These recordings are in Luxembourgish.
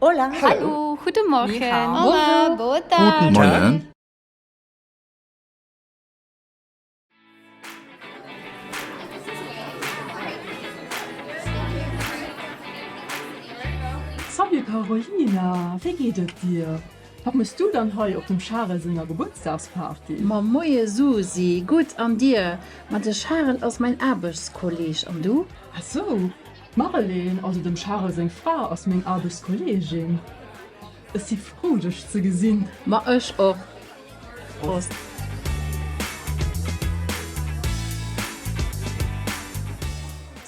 Hola. Hallo. Guten Morgen. Ni hao. Hola. Boa Guten tarde. Moien. Salut Carolina, wéi geet et dir? Wat mëss du dann hei op dem Charel senger Gebuertsdagsparty? Ma moie Susi, gutt an dir? Ma de Charel ass mäin Aarbechtskolleg, an du? Ah sou, D'Mareleen, also dem Charel seng Fra, ass meng Aarbechtskolleegin. Ech si frou, dech ze gesinn. Ma ech och. Prost.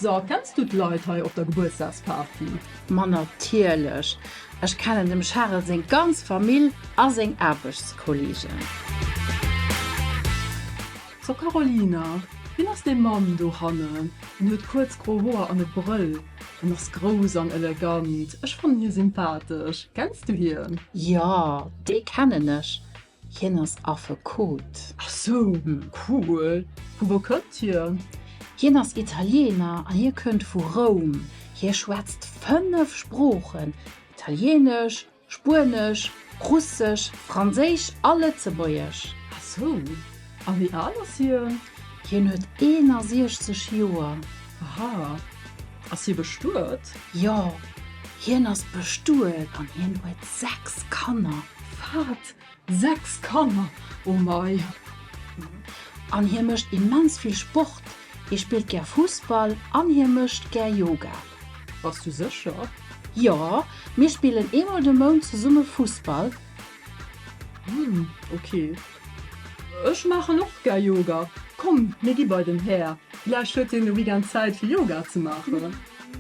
So, kenns du d'Leit hei op der Gebuertsdagsparty? Ma natierlech. Ech kennen dem Charel seng ganz Famill a seng Aarbechtskolleegen. So Carolina, wien ass dee Mann do hannen? En huet kuerz gro Hoer an e Brëll. En ass grouss an elegant. Ech fannen hie sympathesch. Kenns du hien? Jo, dee kennen ech. Hien ass Affekot. Ach sou, cool. Vu wou kënnt hien? Hien ass Italiener an hie kënnt vu Roum. Hie schwätzt fënnef Sproochen, Italienesch, Spuenesch, Russesch, Franséisch a Lëtzebuergesch. A sou. A wéi al ass hien? Hien huet 61 Joer. Aha. Ass hie bestuet? Jo, hien ass bestuet an hien huet sechs Kanner. Wat? Sechs Kanner, oh mei! An hie mécht immens vill Sport, hie spillt gär Fussball an hie mécht gär Yoga. Bass du sécher? Jo, mir spillen eemol de Mount zesumme Fussball. Hm, ok. Ech maachen och gär Yoga. Komm, mir gi bei den Här, villäicht huet hien de Weekend Zäit fir Yoga ze maachen.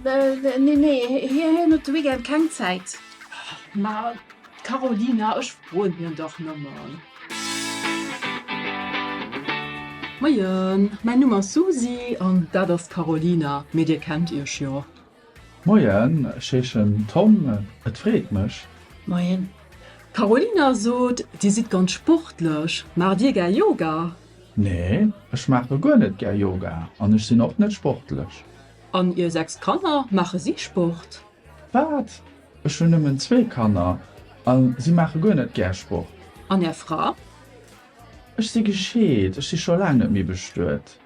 Nee, nee, hien huet de Weekend keng Zäit. Ma Carolina, Ech froen hien dach nëmmen. Moien, mäin Numm ass Susi an dat ass d'Carolina, mee dir kennt iech jo. Moien, ech heeschen Tom, et freet mech. Moien. D'Carolina sot, dir sidd ganz sportlech, maacht dir gär Yoga? Nee, ech maache guer net gär Yoga an ech sinn och net sportlech. An ier 6 Kanner, maache si Sport? Wat? Ech hunn nëmmen zwee Kanner a si maache guer net gär Sport. An Är Fra? Ech si gescheet, ech si scho laang net méi bestuet.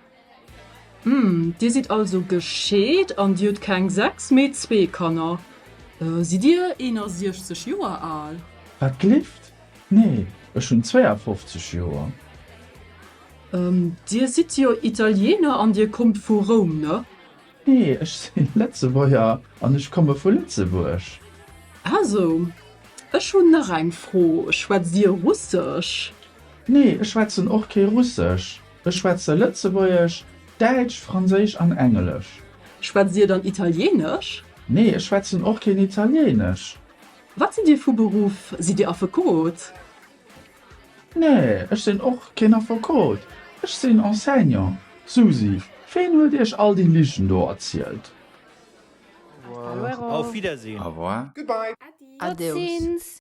Uhm, Dir sidd also gescheet an Dir hutt keng sechs, mee zwee Kanner. Sidd Dir 61 Joer al? Wat gelift? Nee, ech hunn 52 Joer. Uhm, Dir sidd jo Italiener an Dir kommt vu Roum, ne? Nee, ech sinn Lëtzebuerger an ech komme vu Lëtzebuerg. Also, ech hunn nach eng Fro, schwätzt Dir Russesch? Nee, ech schwätzen och kee Russesch. Ech schwätze Lëtzebuergesch, Däitsch, Franséisch an Englesch. Schwätzt Dir dann Italieenesch? Nee, ech schwätzen och keen Italieenesch. Wat sidd Dir vu Beruff? Sidd Dir Affekot? Nee, ech sinn och keen Affekot, ech sinn Enseignant. Susi, ween huet iech all déi Ligen do erzielt? Au revoir. Auf Wiedersehen. Au revoir. Goodbye. Adeus.